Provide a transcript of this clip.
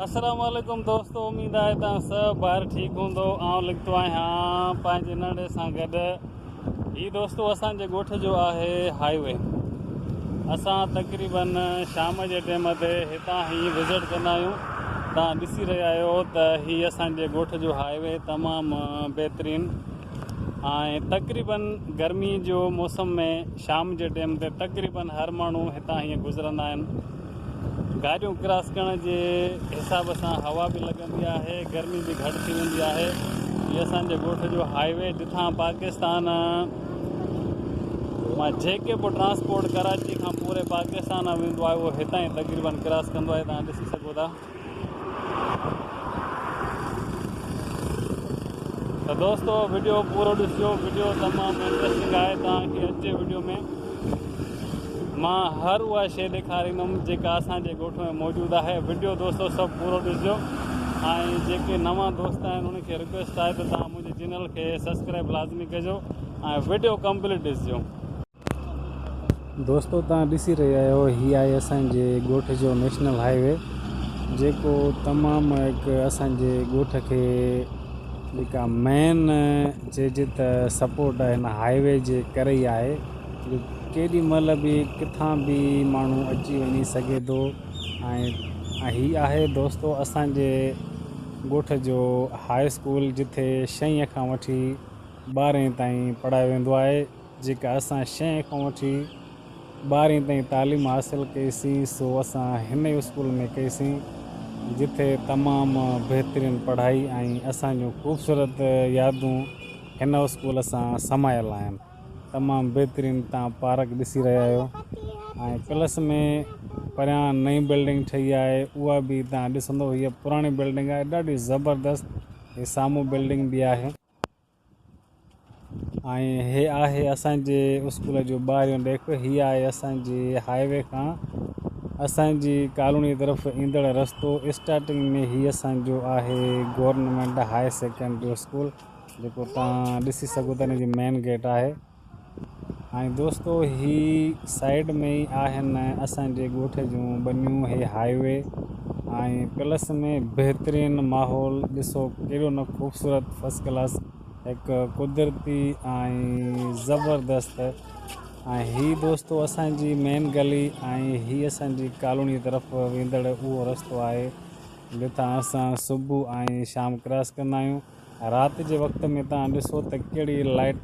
السلام عليڪم دوستو اميد آهي توهان سڀ ڀائر ٺيڪ هوندو آئون لکتو آهيان پنهنجي ننڙي سان گڏ هي دوستو اسان جي ڳوٺ جو آهي هاء وي اسان تقريبن شام جي ٽيم تي هتان هي وزٽ ڪندا آهيون توهان ڏسي رهيا آهيو ته هي اسان جي ڳوٺ جو هاء وي تمام بهترين ۽ تقريبن گرمي جو موسم ۾ شام جي ٽيم تي تقريبن هر ماڻهو هتان هي گذرندا آهن گاڏيون ڪراس ڪرڻ جي حساب سان هوا به لڳندي آهي گرمي به گهٽ ٿي ويندي آهي هي اسان جي ڳوٺ جو هاء وي جتان پاڪستان مان جيڪي به ٽرانسپورٽ ڪراچي کان پوري پاڪستان ۾ ويندو آهي اهو هتان ئي تقريبن ڪراس ڪندو آهي توهان ڏسي سگهو ٿا ته دوستو ويڊيو پورو ڏسجو ويڊيو تمام انٽرسٽنگ آهي توهان کي اچي ويڊيو ۾ مان هر اها شيء ڏيکاريندم جيڪا اسان جي ڳوٺ ۾ موجود آهي ويڊيو دوستو سڀ پورو ڏسجو ۽ جيڪي نوان دوست آهن انهن کي رڪويسٽ آهي ته توهان منهنجي چينل کي سبسڪرائب لازمي ڪجو ۽ ويڊيو ڪمپليٽ ڏسجو دوستو توهان ڏسي رهيا آهيو هي آهي اسان جي ڳوٺ جو نيشنل هاء وي جيڪو تمام هڪ اسان جي ڳوٺ کي جيڪا مين چئجي ته سپورٽ آهي هن هاء وي جي ڪري ئي آهي جو ڪيڏي مهل به ڪٿان به ماڻهو اچي وڃي سگهي ٿو ۽ هي آهي دوستو اسان جي ڳوٺ جو هاء اسڪول جتي شئين کان وٺي ٻارهين تائين پڙهايو ويندو آهي جيڪا اسان شئين کان وٺي ٻارهين تائين تعليم حاصل ڪئي سين سو اسان هن ئي اسڪول ۾ ڪئي سين جتي تمام بهترين پڙهائي ۽ اسان جون خوبصورت يادون هن اسڪول سان سمايل آهن تمام بهترين تان پارڪ ڏسي رهيا آهيو ۽ پلس ۾ پريان نئين بلڊنگ ٺهي آهي اها به تان ڏسندو هي پراڻي بلڊنگ آهي ڏاڍي زبردست هي سامهون بلڊنگ به آهي ۽ هي آهي اسان جي اسڪول جو ٻاهريون ڏيڪ هي آهي اسان جي هاء وي کان اسان جي ڪالوني طرف ايندڙ رستو اسٽارٽنگ ۾ هي اسان جو آهي گورنمينٽ هاء سيڪنڊري اسڪول جيڪو تان ڏسي سگهو ٿا ان جي مين گيٽ آهي ۽ دوستو هي سائيڊ ۾ ئي آهن اسان جي ڳوٺ جون ٻنيون هي هاء وي ۽ پلس ۾ بهترين ماحول ڏسو ڪيڏو نه خوبصورت فرسٽ ڪلاس هڪ قدرتي ۽ زبردست ۽ هي دوستو اسان جي مين گلي ۽ هي اسان جي ڪالوني طرف ويندڙ اهو رستو آهي جتان اسان صبح ۽ شام ڪراس ڪندا آهيون رات جي وقت ۾ تان ڏسو ته ڪهڙي لائٽ